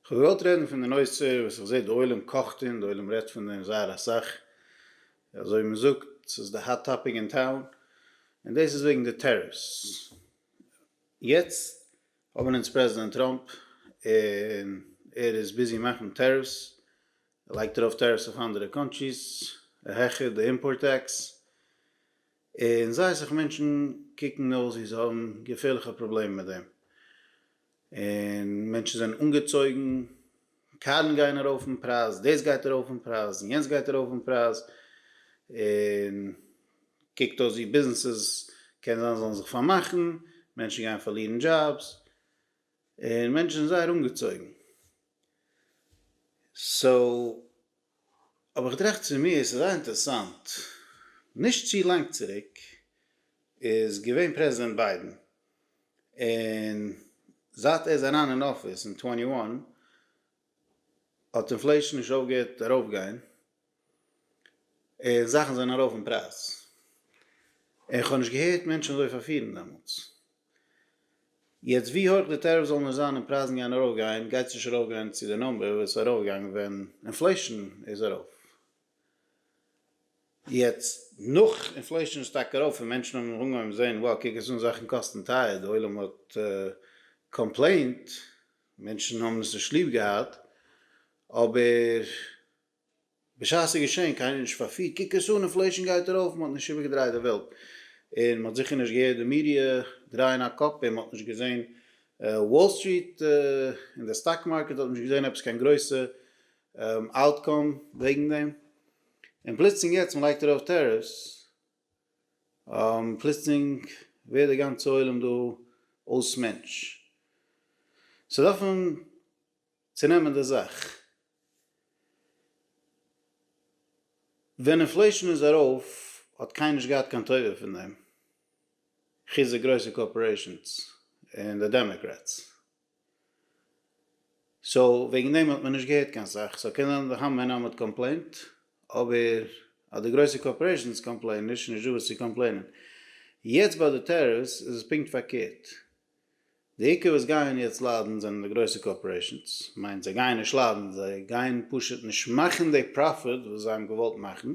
כ'האב געוואלט רעדן פון די נושא וואס איך זעה די עולם קאכט און די עולם רעדט פון דעם זייער אסאך, אזוי ווי מ'זאגט ס'איז די האט טאפיק אין טאון, און דאס איז וועגן די טעריפס. יעצט האבן אונז פרעזידענט טראמפ און ער איז ביזי מאכן טעריפס, ער לייגט ארויף טעריפס אויף אנדערע קאנטריס, ער העכערט די אימפארט טעקס, און זייער אסאך מענטשן קוקן אויס ווי זיי האבן געפערליכע פראבלעמען מיט דעם, און מענטשן זענען אנגעצויגן, קארן גייען ארויף אין פרייז, דאס גייט ארויף אין פרייז, און יענץ גייט ארויף אין פרייז, און קוקט אויס ווי ביזנעסעס קען זיין זאלן זיך פארמאכן, מענטשן גייען פארלירן דזשאבס, און מענטשן זענען זייער אנגעצויגן. סאו. אבער איך טראכט צו מיר ס'איז זייער אינטערעסאנט, נישט צו לאנג צוריק איז געווען פרעזידענט ביידען, און זייט ער איז אריין אין אפיס אין טווענטי וואן האט אינפלעישאן נישט אויפגעהערט ארויפגיין, און זאכן זענען ארויף אין פרייז, און כ'האב נישט געהערט מענטשן אזוי פארפירן דעמאלטס. יעצט ווי הויך די טעריף זאל נאר זיין און פרייזן גייען ארויף גיין גייט עס נישט ארויף גיין צו די נומבער וואס איז ארויף געגאנגען ווען אינפלעישן איז ארויף, יעצט נאך אינפלעישן איז שטארק ארויף און מענטשן האבן אנגעהויבן זען wow קוק עס אן זאכן קאסטן טייער די עולם האט קאמפלעינט מענטשן האבן עס נישט ליב געהאט אבער. בשעת ס'איז געשען, קיינער נישט פארפירט, קוק עס אן, אינפלעישאן גייט ארויף, מען האט נישט איבערגעדרייט די וועלט, און מען האט זיכער נישט געהערט די מידיע דרייען א קאפ, און מען האט נישט געזען וואל סטריט און די סטאק מארקעט האט נישט געזען עפעס קיין גרויסע אוטקאם וועגן דעם, און פלוצלינג יעצט מען לייגט ארויף טעריפס, פלוצלינג ווערט די גאנצע עולם דא אויס מענטש. ס'דארף מען. צו נעמען די זאך. ווען אינפלעישאן איז ארויף האט קיינער נישט געהאט קיין טובה פון דעם, חוץ די גרויסע קארפארעישאנס און די דעמאקרעטס. סאו וועגן דעם האט מען נישט געהערט קיין סאך. סאו קען זיין די המון עם האט קאמפלעינט, אבער אז די גרויסע קארפארעישאנס קאמפלעינען נישט, איז נישטא וואס צו קאמפלעינען. יעצט ביי די טעריפס איז עס פונקט פארקערט. די עיקר וואס גייען יעצט ליידן זענען די גרויסע קארפארעישאנס, כ'מיין זיי גייען נישט ליידן, זיי גייען פשוט נישט מאכן די פראפיט וואס זיי האבן געוואלט מאכן,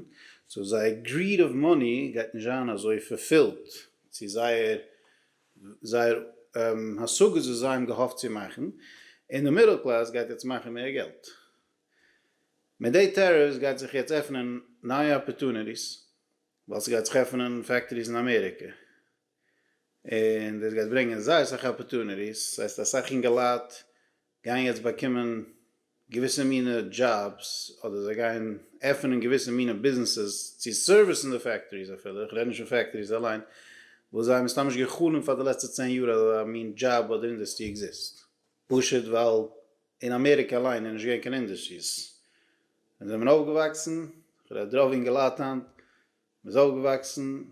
סאו זייער גריד אוו מאני גייט נישט זיין אזוי פארפילט צו זייער זייער השגות וואס זיי האבן געהאפט צו מאכן, און די מידל קלעס גייט יעצט מאכן מער געלט. מיט די טעריפס גייט זיך יעצט עפענען נייע אפערטוניטיס, ווייל ס'גייט זיך עפענען פעקטאריס אין אמעריקע. און דאס גייט ברענגען זייער אסאך אפערטוניטיס, דאס הייסט אסאך אינגעלייט גייען יעצט באקומען געוויסע מינע דזשאבס, אדער זיי גייען עפענען געוויסע מינע ביזנעסעס צו סערוויסן די פעקטאריס אפילו, איך רעד נישט פון פעקטאריס אליין, וואס זיי האבן מסתם נישט גע'חלומ'ט פאר די לעצטע צען יאר אז אזא מין דזשאב אדער אינדוסטרי עקזיסט, פשוט ווייל אין אמעריקע אליין איז נישט געווען קיין אינדוסטריס ווען זיי זענען אויפגעוואקסן, איך רעד רוב אינגעלייט היינט. מען איז אויפגעוואקסן,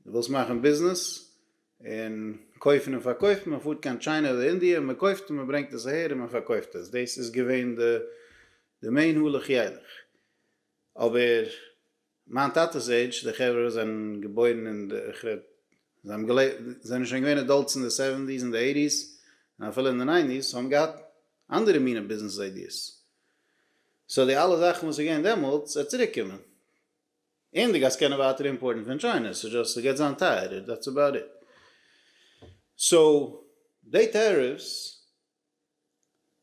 דו ווילסט מאכן ביזנעס, און קויפן און פארקויפן, מען פארט קיין טשיינע אדער אינדיע און מען קויפט און מען ברענגט עס אהער און מען פארקויפט עס, דאס איז געווען די מעין הלוך ילך, אבער מיין טאטע'ס עידזש, די חברה וואס זענען געבוירן אין די, איך רעד, זיי האבן געלעבט, זיי זענען שוין געווען עדאלטס אין די סעווענטיס און די עיטיס און אפילו אין די ניינטיס, האבן געהאט אנדערע מינע ביזנעס איידיעס, סאו די אלע זאכן וואס איז געווען דעמאלטס וועט צוריק קומען. און די גאס קענען ווייטער אימפארטן פון טשיינע, ס'איז דזשאסט ס'גייט זיין טייערער דעטס אבאוט איט. סאו די טעריפס,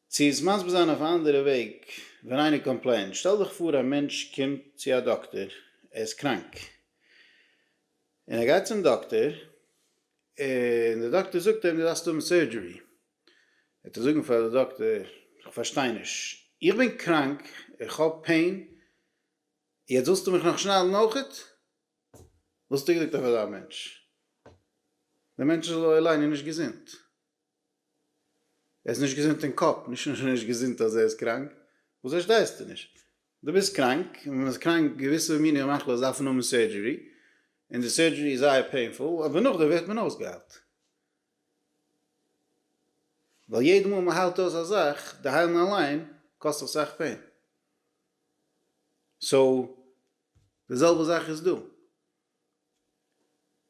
צו עס מסביר זיין אויף א אנדערע וועג, ווען איינער קאמפלעינט, שטעל דיך פאר א מענטש קומט צו א דאקטער, ער איז קראנק, און ער גייט צום דאקטער, און די דאקטער זאגט אים דו דארפסט האבן סורדזשערי, וועט ער זאגן פאר די דאקטער, איך פארשטיי נישט, איך בין קראנק, איך האב פעין, יעצט ווילסטו מיך נאך שניידן אויכעט? וואלסטו געזאגט אויף אזא מענטש דער מענטש איז לא עלינו נישט געזונט. ער איז נישט געזונט אין קאפ, נישט נאר נישט געזונט אז ער איז קראנק, וואס פארשטייסטו נישט? דו ביסט קראנק, און ווען מען איז קראנק געוויסע מיני מחלות דארפן האבן סורדזשערי, און די סורדזשערי איז זייער פעינפול, אבער נאכדעם ווערט מען אויסגעהיילט. ווייל יעדע מאל מען היילט אויס א זאך, די היילן אליין קאסט אסאך פעין. סאו די זעלבע זאך איז דא.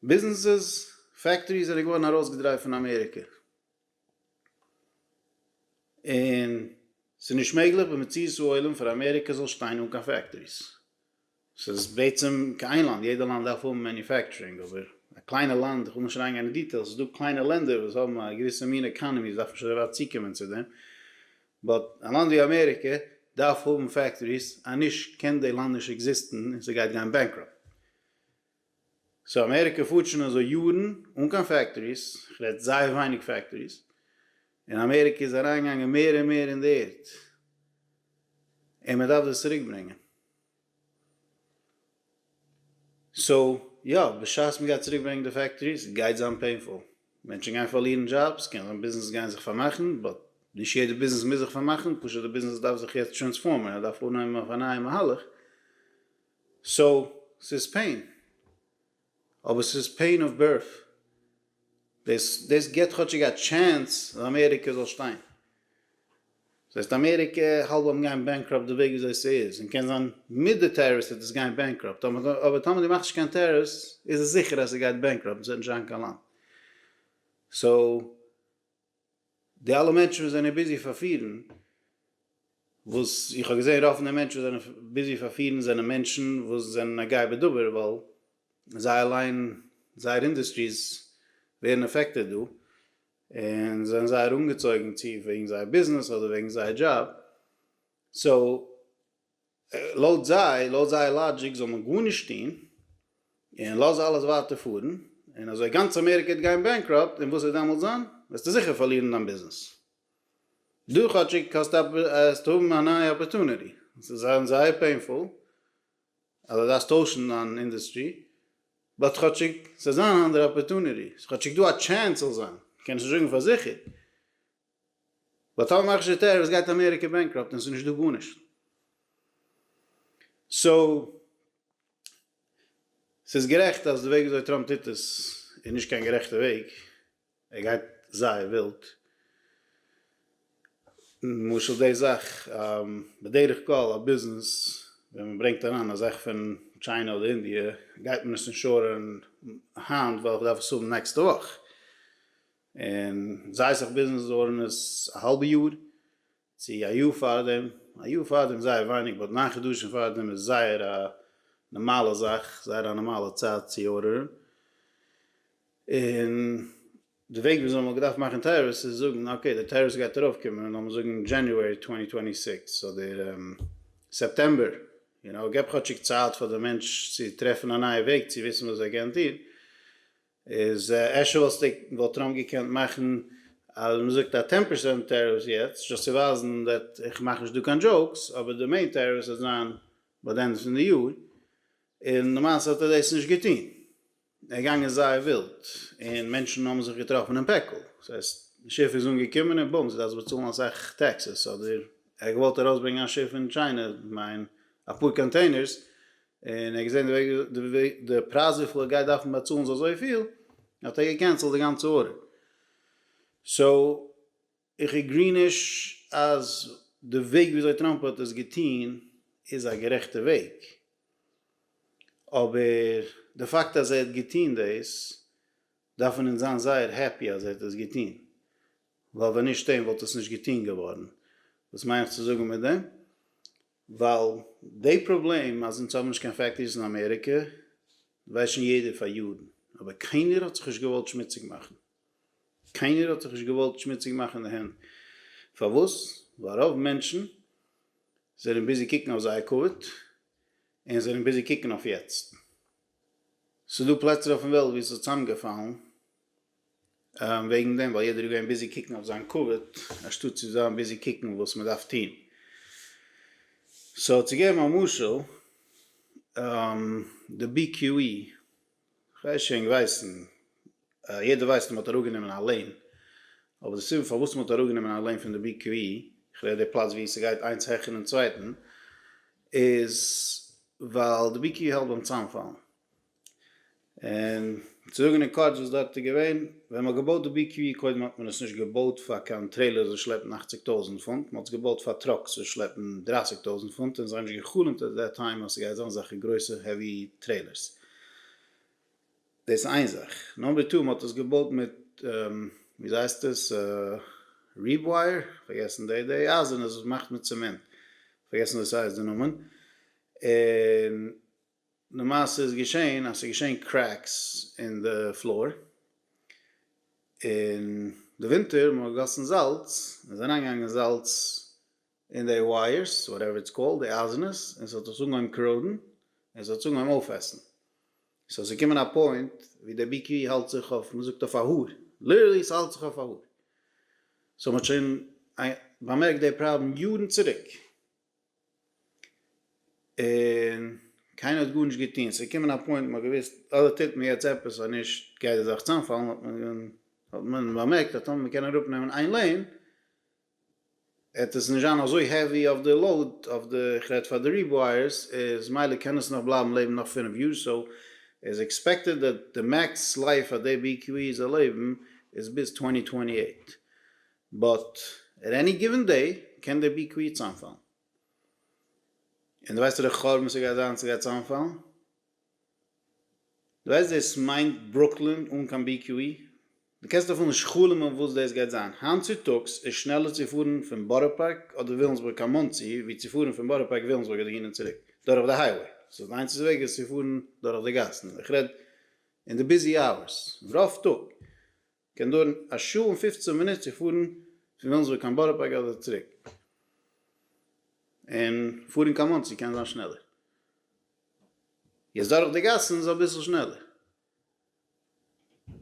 ביזנעסעס, פעקטאריס זענען געווארן ארויסגעדרייט פון אמעריקע. און ס'איז נישט מעגליך במציאות העולם פאר אמעריקע זאל שטיין אן קיין פעקטאריס. ס'איז בעצם כ איין לאנד, יעדע לאנד דארף האבן מעניופעקטשורינג אבער א קליינע לאנד, כ'וויל נישט אריינגיין אין דיטעילס, ס'איז דא קליינע לענדער וואס האבן א געוויסע מין עקאנעמי, ס'דארף נישט אזוי ווייט צוקומען צו דעם, באט א לאנד ווי אמעריקע דארף האבן פעקטאריס אניש קען די לאנד נישט עקזיסטן און ס'גייט גיין בענקראפט. סאו אמעריקע פארט שוין אזוי יארן אן קיין פעקטאריס, כ'רעד זייער ווייניג פעקטאריס, און אמעריקע איז אריינגעגאנגען מער און מער אין די ערד, און מ'דארף דאס צוריקברענגען. סאו יא, בשעת מ'גייט צוריק ברענגען די פעקטאריס גייט זיין פעינפול, מענטשן גייען פארלירן דזשאבס, קען זיין ביזנעסעס גייען זיך פארמאכן, באט נישט יעדע ביזנעס מוז זיך פארמאכן, פשוט די ביזנעס דארף זיך יעצט טרענספארמען, ער דארף אנהייבן אויף א נייע מהלך, סאו ס'איז פעין. אבער ס'איז פעין אוו בירט. דאס דאס גיבט כאטשיג א טשענס אז אמעריקע זאל שטיין. דאס הייסט אמעריקע האלב וועט גיין בענקראפט די וועג וויאזוי ס'איז, און קען זיין מיט די טעריפס וועט עס גיין בענקראפט, אבער טאמער דו מאכסט נישט קיין טעריפס איז עס זיכער אז ס'גייט בענקראפט און ס'וועט נישט זיין קיין לאנד. סאו. די אלע מענטשן וואס זענען ביזי פארפירן, וואס איך האב געזען רוב פון די מענטשן וואס זענען ביזי פארפירן זענען מענטשן וואס זענען א גאה בדבר ווייל זיי אליין זייער אינדוסטריס ווערן עפעקטעד דא און זענען זייער אנגעצויגן צו וועגן זייער ביזנעס אדער וועגן זייער דזשאב סאו לויט זיי, לויט זייער לאגיק זאל מען גארנישט טון, און לאז אלעס ווייטער פארן, און אזוי גאנץ אמעריקע וועט גיין בענקראפט, און וואס וועט דעמאלטס זיין? וועסטו זיכער פארלירן דיין ביזנעס. דא כאטשיג האסטו א, וועסטו האבן א נייע אפערטוניטי, עס וועט זיין זייער פעינפול אז דו דארפסט טוישן דיין אינדוסטרי, באט כאטשיג ס'וועט זיין אן אנדערע אפערטוניטי, ס'איז כאטשיג דא א טשענס ס'זאל זיין, מ'קען עס נישט זאגן פאר זיכער. ווייל טאמער מאכסטו די טעריפס גייט אמעריקע בענקראפט און עס איז נישט דא גארנישט. סאו ס'איז גערעכט אז די וועג וויאזוי טראמפ טוט עס איז נישט קיין גערעכטע וועג, ער גייט זייער ווילד. למשל די זאך בדרך כלל א ביזנעס ווען מען ברענגט אריין א זאך פון טשיינע אדער אינדיע גייט מען עס אינשורען היינט ווייל איך דארף עס האבן נעקסטע וואך. און זיי זיך ביזנעס דאורענעס א האלבע יאר צו א יאר פארדעם, א יאר פארדעם איז זייער ווייניג באט ניין חדשים פארדעם איז זייער א נארמאלע זאך, זייער א נארמאלע צייט צו אורערן, און די וועג וויאזוי מ'האט געדארפט מאכן טעריפס איז זאגן אקעי די טעריפס גייט ארויף קומען לאמיר זאגן דזשעניוערי טווענטי טווענטי סיקס אדער סעפטעמבער, יו נאו, געב כאטשיג צייט פאר די מענטש צו טרעפן א נייע וועג צו וויסן וואס זיי גייען טון, איז אפשר וואלסטו וואלט טראמפ געקענט מאכן אז מען זאגט א טען פערסענט טעריפס יעצט זשאסט צו ווייזן דעט איך מאך נישט דא קיין דזשאוקס אבער די מעין טעריפס וועט זיין ביי די ענדע פון די יאר און למעשה האט ער דאס נישט געטון ער איז געגאנגען זייער ווילד און מענטשן האבן זיך געטראפן אין פעקל דאס הייסט די שיף איז אנגעקומען און בום זי דארף באצאלן אסאך טעקסעס אדער ער האט געוואלט ארויסברענגען א שיף פון טשיינע כ'מיין אפאר קאנטעינערס און ער האט געזען די וועג די די פרייז וויפיל ער גייט דארפן באצאלן זיי אזויפיל, האט ער געקענסלט די גאנצע ארדער. סאו איך עגרי נישט אז די וועג ווי אזוי טראמפ האט עס געטון איז א גערעכטע וועג, אבער די פאקט אז ער האט געטון דאס דארף מען אונז זיין זייער העפי אז ער האט עס געטון, ווייל ווען נישט אים וואלט עס נישט געטון געווארן. וואס מיין איך צו זאגן מיט דעם? ווייל די פראבלעם אז אונז האבן נישט קיין פעקטאריס אין אמעריקע ווייסט שוין יעדער פאר יארן, אבער קיינער האט זיך נישט געוואלט שמוציג מאכן, קיינער האט זיך נישט געוואלט שמוציג מאכן די הענט, פארוואס? ווייל רוב מענטשן זענען ביזי קוקן אויף זייער כבוד, און זענען ביזי קוקן אויף יעצט. ס'איז דא פלעצער אויפן וועלט וואו ס'איז צוזאמגעפאלן. וועגן דעם ווייל יעדער איז געווען ביזי קוקן אויף זיין כבוד אנשטאט צו זיין ביזי קוקן וואס מען דארף טון. סאו צו געבן א משל, די בי קיו אי, כ'ווייס שוין געוויסן, יעדער ווייסט אז מ'האט אראפגענומען א לעין, אבער די סיבה פארוואס מ'האט אראפגענומען א לעין פון די בי קיו אי, כ'רעד די פלאץ וואו ס'גייט איינס העכער דעם צווייטן, איז ווייל די בי קיו אי האלט ביים צאמפאלן. און צו זאגן אין קורץ וואס דארט איז געווען, ווען מ'האט געבויט די בי קיו אי קודם האט מען עס נישט געבויט פאר קיין טרעילערס וואס שלעפן אַכציק טויזנט פונט, מ'האט עס געבויט פאר טראקס וואס שלעפן דרײַסיק טויזנט פונט, און זיי האבן נישט גע'חלומ'ט עט דעט טיים אז ס'גייט זיין אזעלכע גרויסע העווי טרעילערס. דאס איז איין זאך. נאמבער טו, מ'האט עס געבויט מיט וויאזוי הייסט עס? ריבווייער? פארגעסן די די אייזערנע וואס מאכט מיט צעמענט. פארגעסן וואס ס'הייסט די נאמען. און. למעשה איז געשען אז ס'איז געשען קרעקס אין די פלאר, און די ווינטער מ'האט געגאסן זאלץ, און ס'איז אריינגעגאנגען זאלץ אין די ווייערס, וואטעווער איטס קאלד, די אייזענעס, און ס'האט עס אנגעהויבן קראודן, און ס'האט עס אנגעהויבן אויפעסן. סאו ס'איז געקומען א פוינט ווי די BQ האלט זיך אויף, מ'זאגט אויף א האר, ליטערלי ס'האלט זיך אויף א האר. סאו מ'האט שוין באמערקט די פראבלעם יארן צוריק. און קיינער האט גארנישט געטון, ס'איז געקומען א פוינט מ'האט געוואוסט אדער טוט מען יעצט עפעס אויב נישט גייט די זאך צאמפאלן, האט מען האט מען באמערקט אז טאמער מ'קען אראפנעמען איין לעין העט עס נישט זיין אזוי העווי אויף די לאוד אויף די כ'רעד פאר די ריווייערס איז מילא קען עס נאך בלייבן לעבן נאך פֿינף יאר סאו איז עקספעקטעד דעט די מעקס לייף פאר די BQE זאל לעבן איז ביז צוואַנצן צוואַנצן אַכט. באט עט עני גיווען דעי קען דער בי קוויעט צאמפאלן און דו ווייסט די חורבן ס'גייט זיין ס'גייט צאמפאלן דו ווייסט דאס מיינט ברוקלין אן קיין בי קווי דו קענסט אפילו נישט חלומ'ן וואס דאס גייט זיין היינט צוטאגס איז שנעלער צו פארן פון בארא פארק אדער וויליאמסבורג קיין מאנסי ווי צו פארן פון בארא פארק וויליאמסבורג אדער אהין און צוריק דורך די הייוועי סאו די איינציגסטע וועג איז צו פארן דורך די גאסן איך רעד אין די ביזי אווערס רוב טאג. קען דויערן א שעה און פופצן מינוט צו פארן פון וויליאמסבורג קיין בארא פארק אדער צוריק, און פארן קיין מאנסי קען זיין שנעלער, יעצט דורך די גאסן איז אביסל שנעלער,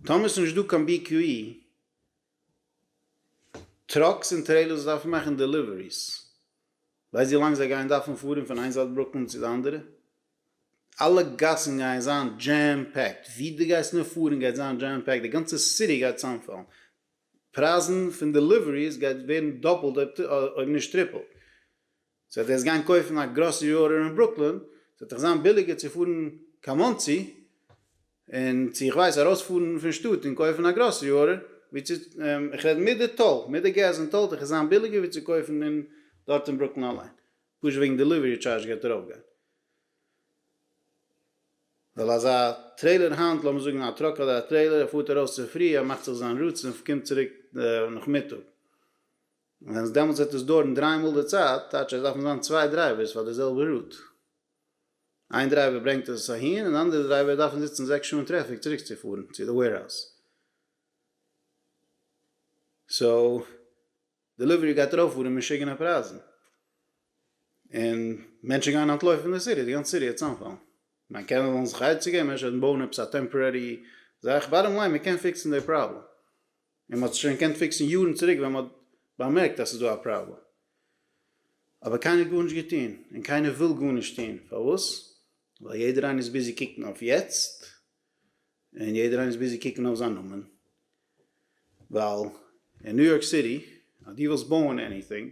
טאמער איז נישט דא קיין בי קיו אי, טראקס און טרעילערס דארפן מאכן דעליוועריס ווייסט ווי לאנג זיי גייען דארפן פארן פון איין זייט ברוקלין צו די אנדערע? אלע גאסן גייען זיין דזשעם פעקט, ווי דו גייסט נאר פארן גייט זיין דזשעם פעקט, די גאנצע סיטי גייט צאמפאלן, פרייזן פון דעליוועריס גייט ווערן דאפלט אויב נישט טריפלט, סאו אז דו וועסט גיין קויפן א גראסערי ארדער אין ברוקלין, ס'וועט דיך זיין ביליגער צו פארן קיין מאנסי, און צו איך ווייס ארויספארן פון שטאט און קויפן א גראסערי ארדער, ווי צו איך רעד מיט די טאל, מיט די געז אין טאל דיך עס זיין ביליגער ווי צו קויפן אין דארט אין ברוקלין אליין, פשוט וועגן דעליווערי טשארזש גייט ארויף גיין, ווייל אזא טרעילער היינט, לאמיר זאגן א טראק אדער א טרעילער, ער פארט ארויס צופרי, ער מאכט זיך זיין רוטס און קומט צוריק נאכמיטאג, ווען עס דעמאלטס וועט עס דויערן דריי מאל די צייט, טייטש אז עס דארפן זיין צוויי דרייווערס פאר די זעלבע רוט. איין דרייווער ברענגט עס אהין און אנדערע דרייווער דארפן זיצן זעקס שעה אין טרעפיק צוריקצופארן צו די וועירהאוז. סאו דעליווערי גייט ארויפפארן משוגענע פרייזן און מענטשן גייען אנטלויפן פון די סיטי, די גאנצע סיטי גייט צוזאמפאלן. כ'מיין קענען זאלן זיך עצה געבן, אפשר בויען עפעס א טעמפארערי זאך, באטטאם ליין מ'קען פיקסן די פראבלעם. און מ'האט עס שוין געקענט פיקסן יארן צוריק ווען מ'האט באמערקט אז ס'איז דא א פראבלעם. אבער קיינער האט גארנישט געטון, און קיינער וויל גארנישט טון. פארוואס? ווייל יעדער איינער איז ביזי קוקן אויף יעצט, און יעדער איינער איז ביזי קוקן אויף זיין נאמען. ווייל אין ניו יארק סיטי אז דו ווילסט בויען עניטינג,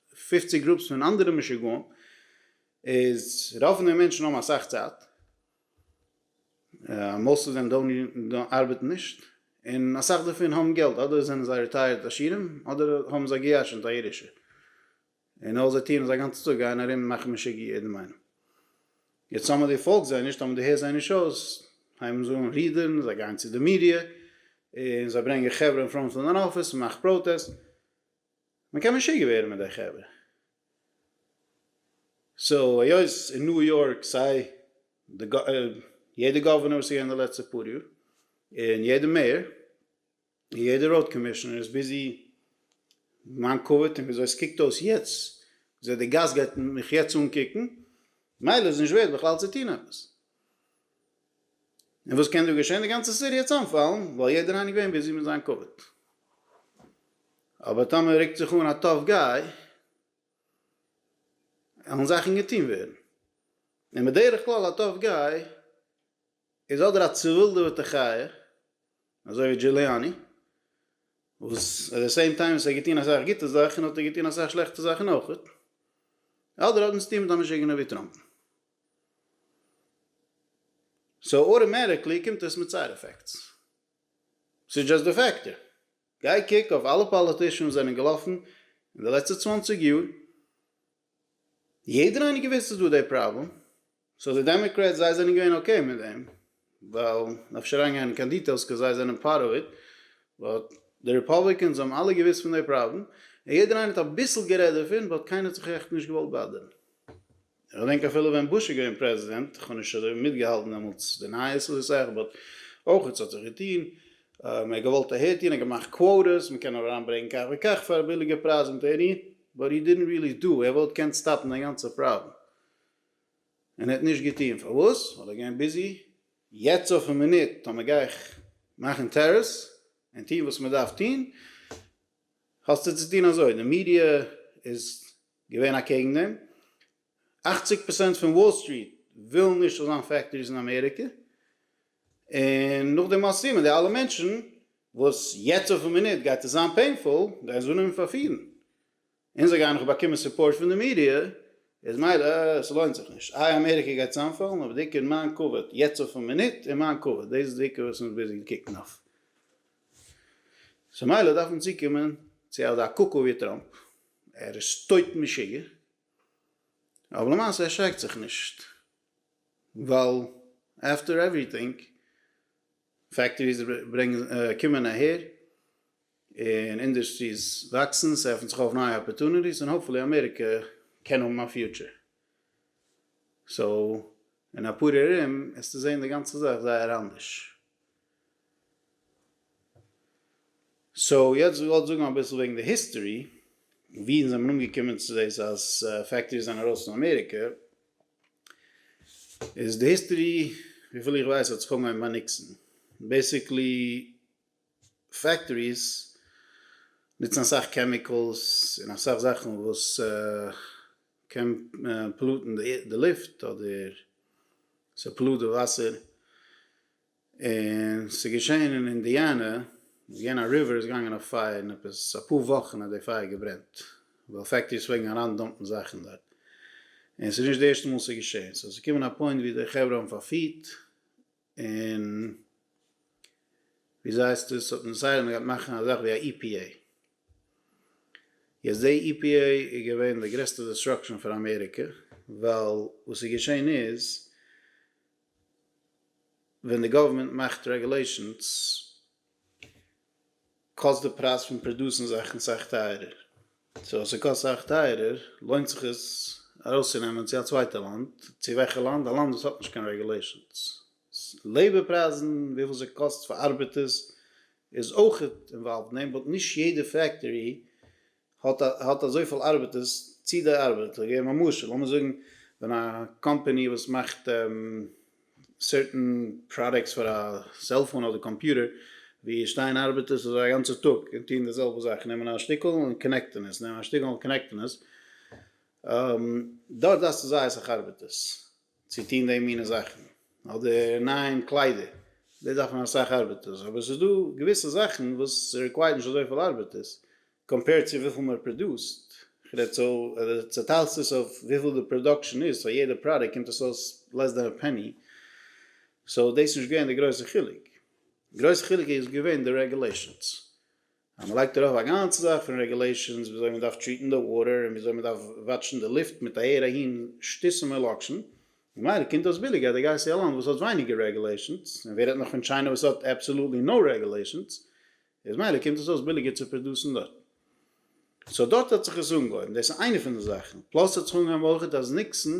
פֿופֿציק גרופס פון אנדערע משוגעים איז רוב פון די מענטשן האבן אסאך צייט מאסט אוו דעם דאונט ארבעטן נישט און אסאך דערפון האבן געלט אדער זענען זיי רעטייערט עשירים אדער האבן זיי געירשנט א ירושה און אויל זיי טוען עס א גאנצע טאג גייען ארום מאכן משוגע יעדעם איינעם יעצט טאמער די פאלגסט זיי נישט טאמער די הערסט זיי נישט אויס הייבן זיי אן רודערן זיי גייען צו די מידיע און זיי ברענגען חברה אין פראנט פון דיין אפיס און מאך פראטעסט. מען קען משוגע ווערן מיט די חברה. סאו היות אין ניו יארק סיי די יעדע גאווערנער וואס איז געווען די לעצטע פאר יאר, און יעדע מעיאר, און יעדע ראוד קאמישענער איז ביזי מיין כבוד און וויאזוי עס קוקט אויס יעצט, וויאזוי די גאס גייט מיך יעצט אנקוקן, ממילא איז נישט ווערט בכלל צו טון עפעס. און וואס קען דא געשען? די גאנצע סיטי העט צאמפאלן, ווייל יעדער איינער געווען ביזי מיט זיין כבוד. אבער טאמער רוקט זיך אן א טאף גיי, וועלן זאכן געטון ווערן. און בדרך כלל א טאף גיי איז אדער א צעווילדעוועטע חיה, אזוי ווי דזשוליאני, וואס עט די סעים טיים וואס ער האט געטון אסאך גוטע זאכן האט ער געטון אסאך שלעכטע זאכן אויכעט, אדער האט מען צוטון מיט א משוגענער ווי טראמפ. סאו אוטאמעטיקלי קומט עס מיט סייד עפעקטס. ס'איז דזשאסט די פעקט. גיי קוק אויף אלע פאליטישאנס זענען געלאפן אין די לעצטע צוואנציג יאר, יעדער איינער געוויסט איז דא די פראבלעם, סאו די דעמעקרעטס זיי זענען געווען אקעי מיט דעם, ווייל נאך נישט אריינגיין אין קיין דיטעילס קויז זיי זענען פארט אוו איט, באט די ריפאבליקענס האבן אלע געוויסט פון די פראבלעם, און יעדער איינער האט אביסל גערעדט דערפון, באט קיינער האט זיך עכט נישט געוואלט באדערן. איך געדענק אפילו ווען בוש איז געווען פרעזידענט, איך האב נישט אזוי מיטגעהאלטן דעמאלטס די נייעס אזוי סאך, באט אויך עס האט זיך געטון, מען האט געוואלט אהער טון, ער האט געמאכט קוואטערס, מען קען אריין ברענגן כך וכך פאר א ביליגע פרייז און טעני, באט הי דידנט ריעלי דא, ער וואלט געקענט סטאפן די גאנצע פראבלעם, און ער האט נישט געטון, פארוואס? ווייל ער איז געווען ביזי. יעצט אויפן מינוט טאמער גיי איך מאכן טערעס און טון וואס מען דארף טון, האסטו צו טון אזוי, די מידיע איז געווען אקעגן דעם, אכציג פראצענט פון וואל סטריט ווילן נישט ס'זאל זיין פעקטאריס אין אמעריקע, און נאך די מעשים און די אלע מענטשן וואס יעצט אויפן מינוט גייט עס זיין פעינפול גייען זיי אנהויבן פארפירן, און זיי גייען נאך באקומען סופארט פון די מידיע, איז מילא עס לוינט זיך נישט, איי אמעריקע גייט צאמפאלן אבער די עיקר איז מיין כבוד יעצט אויפן מינוט און מיין כבוד, דאס איז די עיקר וואס אונז ביזי קוקן אויף, סאו מילא דארף מען צוקומען צו אזא קוקו ווי טראמפ. ער איז טויט משוגע, אבער למעשה ערשרעקט זיך נישט, ווייל עפטער עווריטינג פעקטאריס ברענגען קומען אהער, און אינדוסטריס וואקסן, ס'עפנט זיך אויף נייע אפערטוניטיס, און האפפולי אמעריקע קען האבן א פיוטשער. סאו, אין אפאר יאר ארום, עסטו זען די גאנצע זאך זייער אנדערש. סאו יעצט איך וואלט זאגן אביסל וועגן די היסטערי ווי אונז זעמער אנגעקומען צו דאס אז פעקטאריס זענען ארויס פון אמעריקע איז די היסטערי וויפיל איך ווייס האט זיך אנגעהויבן ביי ניקסאן בעסיקלי פעקטאריס נוצן אסאך קעמיקעלס און אסאך זאכן וואס קען פאלוטן די לופט אדער ס'פאלוט די וואסער און ס'איז געשען אין אינדיאנע, איז געווען א ריווער איז געגאנגען אויף פייער און עפעס אפאר וואכן האט די פייער געברענט, ווייל פעקטריס פלעגן אריין דאמפן זאכן דארט, און ס'איז נישט די ערשטע מאל ס'איז געשען, סאו ס'איז געקומען א פוינט ווי די חברה האבן פארפירט, און וויאזוי הייסט עס האט מען דעסיידעט מ'גייט מאכן א זאך ווי א EPA, יעצט די EPA איז געווען די גרעסטע דעסטראקשען פאר אמעריקע, ווייל וואס איז געשען איז, ווען די גאווערמענט מאכט רעגולעישאנס קאסט די פרייז פון פראדוסן זאכן סאך טייערער, סאו אז ס'קאסט סאך טייערער לוינט זיך עס ארויסצונעמען צו א צווייטע לאנד, צו וועלכע לאנד? א לאנד וואס האט נישט קיין רעגולעישאנס. לעיבער פרייזן, וויפיל ס'קאסט פאר ארבעטערס איז אויך אינוואלווד אין דעם, באט נישט יעדע פעקטארי האט האט אזויפיל ארבעטערס צי די ארבעט, איך געב א משל, לאמיר זאגן ווען א קאמפעני וואס מאכט סערטען פראדעקטס פאר א סעלפאון אדער קאמפיוטער ווי עס שטייען ארבעטערס אזוי א גאנצע טאג און טוען די זעלבע זאך, נעמען א שטיקל און קאנעקטען עס, נעמען א שטיקל און קאנעקטען עס, דארט דארפסטו זייער אסאך ארבעטערס. צו טון די מינע זאכן אדער נייען קליידער דאס דארף מען אסאך ארבעטערס אבער עס איז דא געוויסע זאכן וואס רעקווייערט נישט אזויפיל ארבעטערס קאמפעירד צו וויפיל מען פראדוסט, כ'רעד סאו אז די צעטיילסט עס אויף וויפיל די פראדאקשען איז פאר יעדע פראדוקט קומט עס אויס לעס דען א פעני סאו דאס איז נישט געווען די גרויסע חילוק גרויסע חילוק איז געווען די רעגולעישאנס. אז מען לייגט ארויף א גאנצע זאך פון רעגולעישאנס וויאזוי מען דארף טריעטן די וואטער און וויאזוי מען דארף וואטשן די לופט מיט אהער אהין שטותים און לאקשן, ממילא קומט אויס ביליגער אז דו גייסט צו א לאנד וואס האט ווייניגער רעגולעישאנס, און ווער רעדט נאך פון טשיינע וואס האט אבסאלוטלי נאו רעגולעישאנס, איז מילא קומט עס אויס ביליגער צו פראדוסן דארט. סאו דארט האט זיך עס אנגעהויבן, דאס איז איינע פון די זאכן, פלאס האט זיך אנגעהויבן אויכעט אז ניקסאן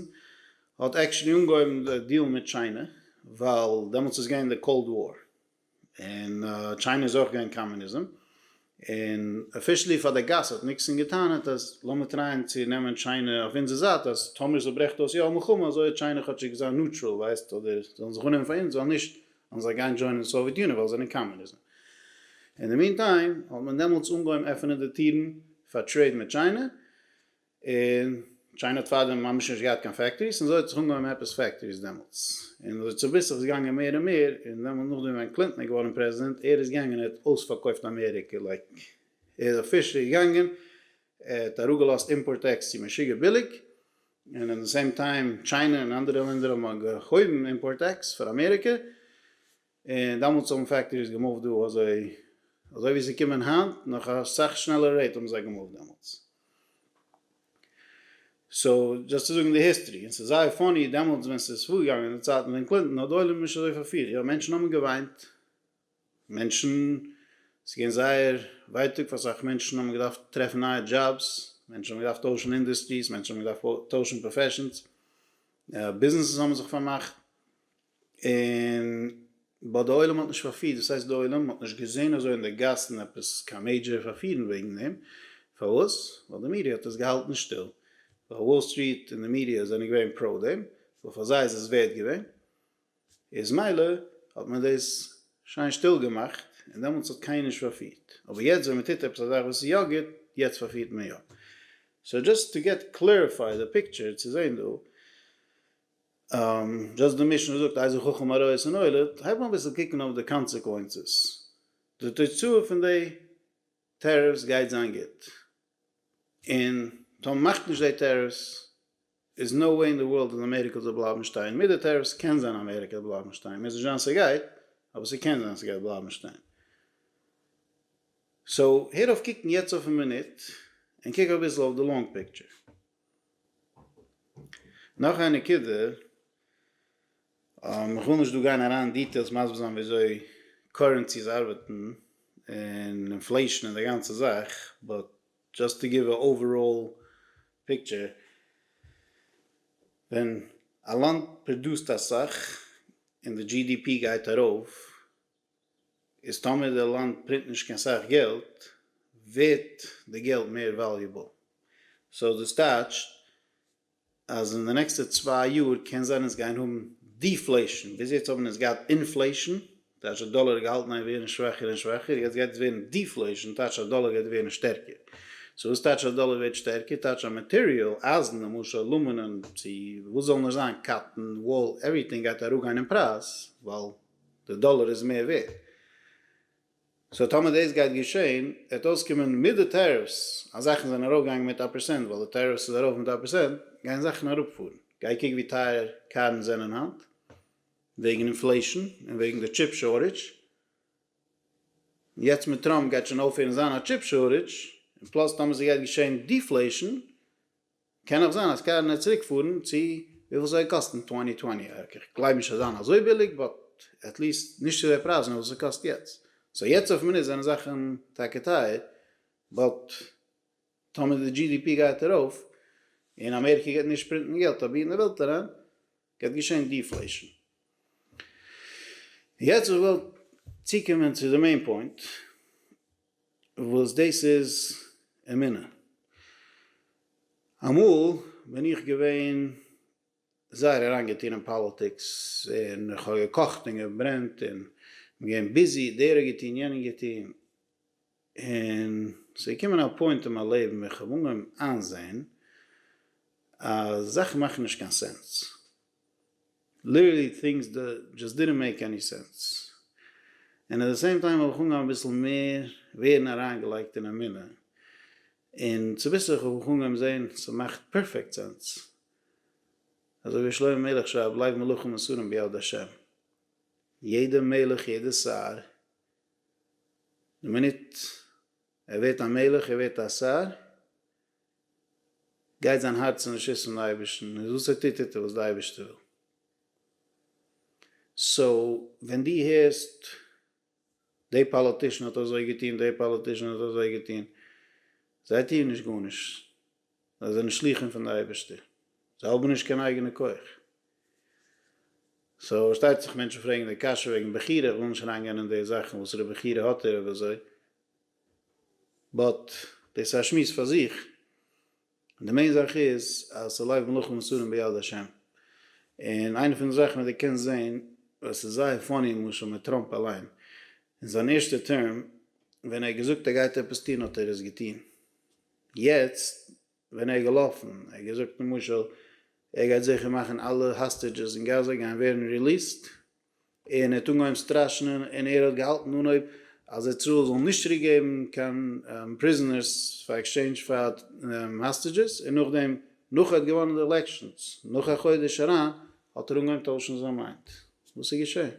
האט עקשעלי אנגעהויבן די דיעל מיט טשיינע, ווייל דעמאלטס איז געווען די קאלד וואר. און טשיינע איז אויך געווען קאמוניזם, און אפישעלי פאר די גאס האט ניקסאן געטענה'ט אז לאמיר טרייען צו נעמען טשיינע אויף אונזער זייט אז טאמער ס'ברעכט אויס יא א מלחמה אזוי האט טשיינע כאטשיג געזאן נוטראל ווייסט אדער זאלן זיך אננעמען פאר אונז ווייל נישט וועלן זיי גיין דזשוינען די סאוויעט יוניאן ווייל זיי זענען קאמוניזם. אין די מין טיים האט מען דעמאלטס אנגעהויבן עפענען די טירן פאר טרעיד מיט טשיינע, און טשיינע האט פארדעם ממש נישט געהאט קיין פעקטאריס און אזוי האט זיך אנגעהויבן עפעס פעקטאריס דעמאלטס און אזוי צוביסלעך איז געגאנגען מער און מער און דעמאלטס נאכדעם ווען קלינטאן איז געווארן פרעזידענט ער איז געגאנגען ער האט אויספארקויפט אמעריקע לייק ער איז אפישעלי געגאנגען ער האט אראפגעלאזט אימפארט טעקס צו משוגע ביליג און אין די סעים טיים טשיינע און אנדערע לענדער האבן געהויבן אימפארט טעקס פאר אמעריקע. און דאמאלטס האבן פעקטאריס געמופט דא אזוי אזוי ווי ס'איז קומען היינט נאך א סאך שנעלער רעיט האבן זיי געמופט דעמאלטס. סאו דזשאסט צו זאגן די היסטערי און ס'איז זייער פאני דעמאלטס ווען ס'איז פארגעגאנגען אין די צייטן ווען קלינטאן האט די עולם נישט אזוי פארפירט יא מענטשן האבן געוויינט מענטשן ס'איז געווען זייער ווייטאג פאר אסאך מענטשן האבן געדארפט טרעפן נייע דזשאבס מענטשן האבן געדארפט טוישן אינדוסטריס מענטשן האבן געדארפט טוישן פראפעשנס ביזנעסעס האבן זיך פארמאכט. און באט די עולם האט נישט פארפירט, דאס הייסט די עולם האט נישט געזען אזוי אין די גאסן עפעס קיין מעידזשער פארפירן וועגן דעם, פארוואס? ווייל די מידיע האט עס געהאלטן שטיל, ווייל וואל סטריט און די מידיע זענען געווען פראו דעם, ווייל פאר זיי איז עס ווערט געווען, איז מילא האט מען דאס שיין שטיל געמאכט, און דעמאלטס האט קיינער נישט פארפירט, אבער יעצט ווען מען טוט עפעס א זאך וואס איז יא גוט, יעצט פארפירט מען יא. סאו דזשאסט טו געט קלעריפיי די פיקטשער צו זען דא, זשאסט די משנה זאגט איזה חכם הרואה את הנולד, הייב אן אביסל קוקן אויף די קאנסעקווענסעס, די תוצאה פון די טעריפס גייט זיין גוט, און טאמער מ'מאכט נישט די טעריפס איז נאו וועי אין די ווארלד אז אמעריקע זאל בלייבן שטיין, מיט די טעריפס קען זיין אמעריקע וועט בלייבן שטיין, מוז נישט זיין ס'גייט, אבער ס'קען זיין ס'גייט בלייבן שטיין. סאו הער אויף קוקן יעצט אויפן מינוט, און קוק אביסל אויף די לאנג פיקטשער. נאך א נקודה, איך וויל נישט דא גיין אריין אין דיטעילס מסביר זיין ווי אזוי קורענסיס ארבעטן און אינפלעישן און די גאנצע זאך, באט דזשאסט טו גיוו א אוועראל פיקטשער, ווען א לאנד פראדוסט אסאך און די דזשי די פי גייט ארויף, איז טאמער די לאנד פרינט נישט קיין סאך געלט ווערט די געלט מער וואליובעל. סאו דאס טייטשט אז אין די נעקסטע צוויי יאר קען זיין אונז גייען האבן דיפלעישן, ביז יעצט האבן אונז געהאט אינפלעישן, טייטש די דאלער איז געהאלטן איין ווערן שוואכער און שוואכער, יעצט גייט עס ווערן דיפלעישן, טייטש אז דאלער גייט ווערן שטערקער. סאו וואס טייטש אז דאלער ווערט שטערקער? טייטש אז מאטעריאל, אייזן למשל, אלומינום, צו וואס זאל נאר זיין, קאטטן, וואל, עווריטינג גייט אראפגיין אין פרייז, ווייל די דאלער איז מער ווערט. סאו טאמער דאס גייט געשען וועט אויסקומען מיט די טעריפס אז זאכן זענען ארויפגעגאנגען מיט א פראצענט ווייל די טעריפס איז ארויף מיט א פראצענט גייען זאכן אראפפארן. גיי קוק ווי טייער קארן זענען היינט וועגן אינפלעישן און וועגן די טשיפ שארטעדזש. יעצט מיט טראמפ גייט שוין אויפהערן זיין א טשיפ שארטעדזש און פלאס טאמער ס'גייט געשען דיפלעישן קען אויך זיין אז קענען ער צוריק פארן צו וויפיל ס'וועט קאסטן טווענטי טווענטי ארק איך גלייב נישט ס'וועט זיין אזוי ביליג באט עטליסט נישט צו די פרייזן וואס ס'קאסט יעצט סאו יעצט אויף מינוט זענען זאכן טאקע טייער באט טאמער די דזשי די פי גייט ארויף און אמעריקע גייט נישט פרינטן געלט אויף בידן די וועלט אריין גייט געשען דיפלעישן. יעצט איך וויל צוקומען צו די מעין פוינט וואס דאס איז אמונה. אמאל בין איך געווען זייער אריינגעטון אין פאליטיקס און איך האב געקאכט און געברענט און געווען ביזי, דער האט געטון יענער געטון, און ס'געקומען א פוינט אין מיין לעבן ווען כ'האב אנגעהויבן איינזעהן אז זאכן מאכן נישט קיין סענס, ליטערלי טינגס דזשאסט דידנט מעיק עני סענס, און עט די סעים טיים האב איך אנגעהויבן אביסל מער ווערן אריינגעלייגט אין אמונה, און צוביסלעך האב איך אנגעהויבן זעהן ס'מאכט פערפעקט סענס, אזוי ווי שלמה המלך שרייבט לב מלכים מסורים ביד השם, יעדע מלך יעדע שר, די מינוט ער ווערט א מלך ער ווערט א שר, גייט זיין הארץ אין רשות פון אייבערשטן, איז וואס ער טוט טוט ער וואס די אייבערשטער וויל. סאו ווען דו הערסט די פאליטישן האט אזוי געטון די פאליטישן האט אזוי געטון, זיי טוען נישט גארנישט, זיי זענען שלוחים פון די אייבערשטער, זיי האבן נישט קיין אייגענע כח. סאו פארשטייט זיך מענטשן פרעגן די קשיא וועגן בחירה, איך וויל נישט אריינגיין אין די זאכן וואסערע בחירה האט ער אויב אזוי, באט דאס איז א שמועס פאר זיך, די מעין זאך איז אז ס'לייוו מלאכים מסורים ביד השם, און איינע פון די זאכן וואס דו קענסט זען, וואס איז זייער פאני למשל מיט טראמפ אליין, אין זיין ערשטע טערם ווען ער האט געזאגט ער גייט עפעס טון האט ער עס געטון. יעצט ווען ער איז געלאפן ער האט געזאגט למשל ער גייט זיכער מאכן אלע האסטעדזשעס אין גאזא גייען ווערן ריליעסט און ער האט אנגעהויבן סטראשענען און ער האט געהאלטן אנהויב אז איצראעל זאל נישט צוריק געבן קיין פריזענערס פאר עקסטשעינדזש פאר האסטעדזשעס און נאכדעם נאך ער האט געוואנען די עלעקשאנס נאך א חודש אריין האט ער אנגעהויבן טוישן זיין מיינד וואס איז געשען?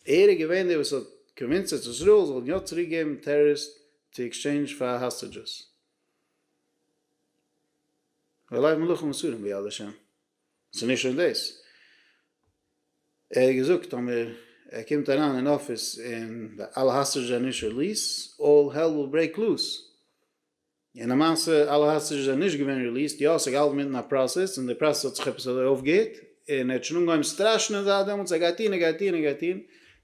ער איז געווען דער וואס האט קאנווינסעד איזריעל זאל יא צוריק געבן טערעריסט צו עקסטשעינדזש פאר האסטעדזשעס. ואולי מלאכים אסורים ביד השם. ס'איז נישט שוין דאס. ער האט געזאגט אז מיר ער קומט אריין אין אפיס און אלע האסטעדזשעס זענען נישט ריליעסט, אלל העל וויל ברעיק לוס. און למעשה אלע האסטידזשעס זענען נישט געווען ריליעסט, יא ס'איז געהאלטן מיטן א פראסעס, און די פראסעס האט זיך עפעס אזוי אויפגעהערט, און ער האט שוין אנגעהויבן סטראשענען זייט דעמאלטס, ער גייט טוהן, ער גייט טוהן, ער גייט טוהן,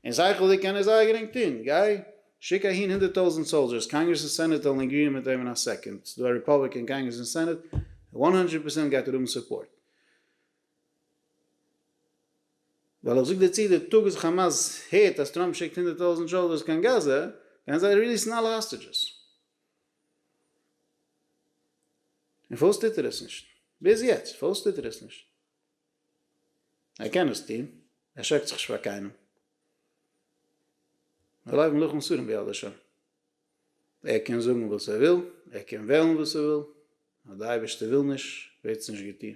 און שכל'דיג קען ער זייער גרינג טוהן, גיי שיק אהין הונדערט טויזענט סאלדזשערס, קאנגרעס און סענעט וועלן עגריען מיט אים אין א סעקאנד, ס'דא א רעפאבליקען אין קאנגרעס און סענעט, וואן הונדרעט פערסענט גייט ער האבן סופארט. ווייל איך זאג דיר צו, די טאג וואס כאמאס הערט אז טראמפ שיקט הונדערט טויזענט סאלדזשערס קיין גאזא, גייען זיי ריליעסן אלע האסטידזשעס. און פארוואס טוט ער עס נישט? ביז יעצט פארוואס טוט ער עס נישט? ער קען עס טון, ער שרעקט זיך נישט פאר קיינעם. מיר לייגן לוח מסורים ביד השם. ער קען זאגן וואס ער וויל, ער קען וועלן וואס ער וויל, אז די אייבערשטער וויל נישט ווערט עס נישט געטון,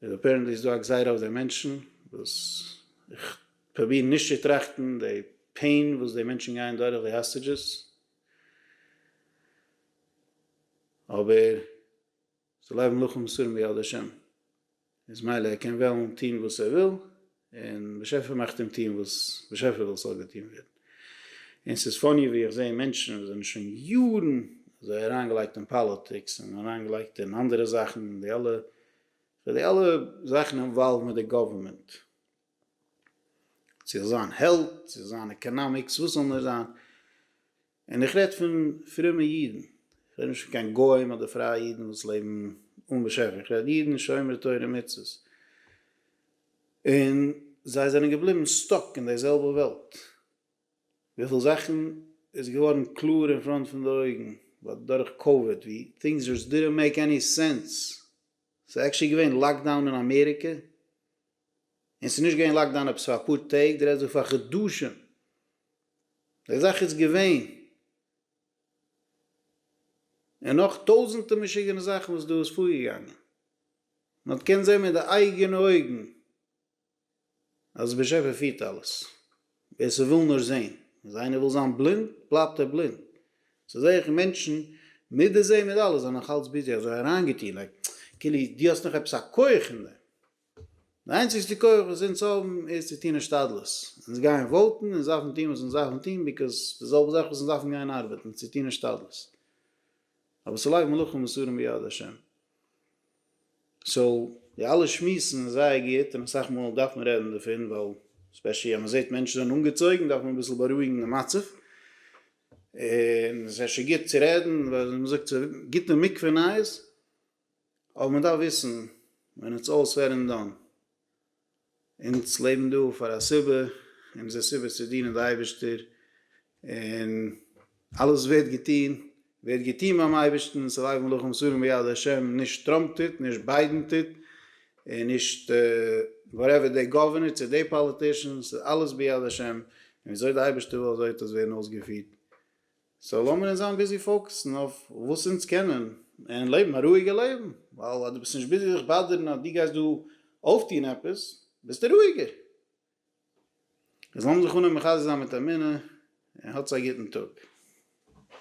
איז אפערענטלי איז דא א גזירה אויף די מענטשן, וואס איך פרוביר נישט צו טראכטן די פעין וואס די מענטשן גייען דורך, די האסטעדזשעס, אבער זיי לעבן לפנים סור מביאת השם, איז מילא ער קען וועלן טוהן וואס ער וויל, און באשעפער מאכט אים טוהן וואס באשעפער וויל ס'זאל געטוהן ווערן. און ס'איז פאני ווי איך זעה מענטשן וואס זענען שוין יארן אזוי אריינגעלייגט אין פאליטיקס און אריינגעלייגט אין אנדערע זאכן, די אלע, די אלע זאכן אינוואלווד מיט די גאווערמענט, ס'זאל זיין העלט, ס'זאל זיין עקאנאמיקס, וואס ס'זאל נאר זיין, און איך רעד פון פרומע אידן, איך רעד נישט פון קיין גוים אדער פרייע אידן וואס לעבן אן באשעפער, איך רעד אידן שומרי תורה ומצוות, און זיי זענען געבליבן סטאק אין די זעלבע וועלט, וויפיל זאכן איז געווארן קלאר אין פראנט פון די אויגן דורך קאוויד, ווי טינגס זשאסט דידענט מעיק עני סענס, ס'איז עקטשעלי געווען לאקדאון אין אמעריקע, און ס'איז נישט געווען לאקדאון עפעס פאר אפאר טעג, די רעדסט דא פאר חדשים, די זאך איז געווען, און נאך טויזענטע משוגענע זאכן וואס דא איז פארגעגאנגען, מען האט געקענט זען מיט די אייגענע אויגן אז באשעפער פירט אלעס, ווער ס'וויל נאר זען, אז איינער וויל זיין בלינד בלייבט ער בלינד, ס'איז זעך מענטשן מיט די זען מיט אלעס זענען נאך אלץ ביזי אזוי אריינגעטון, לייק כאילו דו האסט נאך עפעס א כח אין דעם. די איינציגסטע כח וואס אונז האבן איז צו טון השתדלות, אונז גייען וואוטן, אונז דארפן טון וואס אונז דארפן טון ביקאוז די זעלבע זאך וואס אונז דארפן גיין ארבעטן צו טון השתדלות, אבער ס'לייגט מלאכים מסורים ביד השם. סאו די אלע שמועסן איז זייער גוט און אסאך מאל דארף מען רעדן דערפון ווייל ספעשעלי אז מ'זעט מענטשן זענען אנגעצויגן דארף מען אביסל בארואיגן די מצב און ס'איז אפשר גוט צו רעדן ווייל ווי מ'זאגט ס'גוט אין מקווה נייעס. אבער מען דארף וויסן ווען איטס אלל סעד ענד דאן, אונז לעבן דא פאר א סיבה, אונזער סיבה איז צו דינען די אייבערשטער, און אלעס ווערט געטון, ווערט געטון ביים אייבערשטן, ס'ליי מלאכים שרים ביד השם, נישט טראמפ טוט, נישט ביידען טוט, און נישט וואטעווער די גאווערנער צו די פאליטישאן, ס'איז אלעס ביד השם, און וויאזוי די אייבערשטער וויל אזוי וועט עס ווערן אויסגעפירט. סאו לאמיר אונז זיין ביזי פאוקעסן אויף וואס אונז קענען, און לעבן א רואיגע לעבן, ווייל אז דו ביסט נישט ביזי זיך באדערן אז דו גייסט דא אויפטון עפעס, ביסטו רואיגער. איז לאמיר זיך אנהויבן מחזק זיין מיט אמונה, און האטס א גוטן טאג.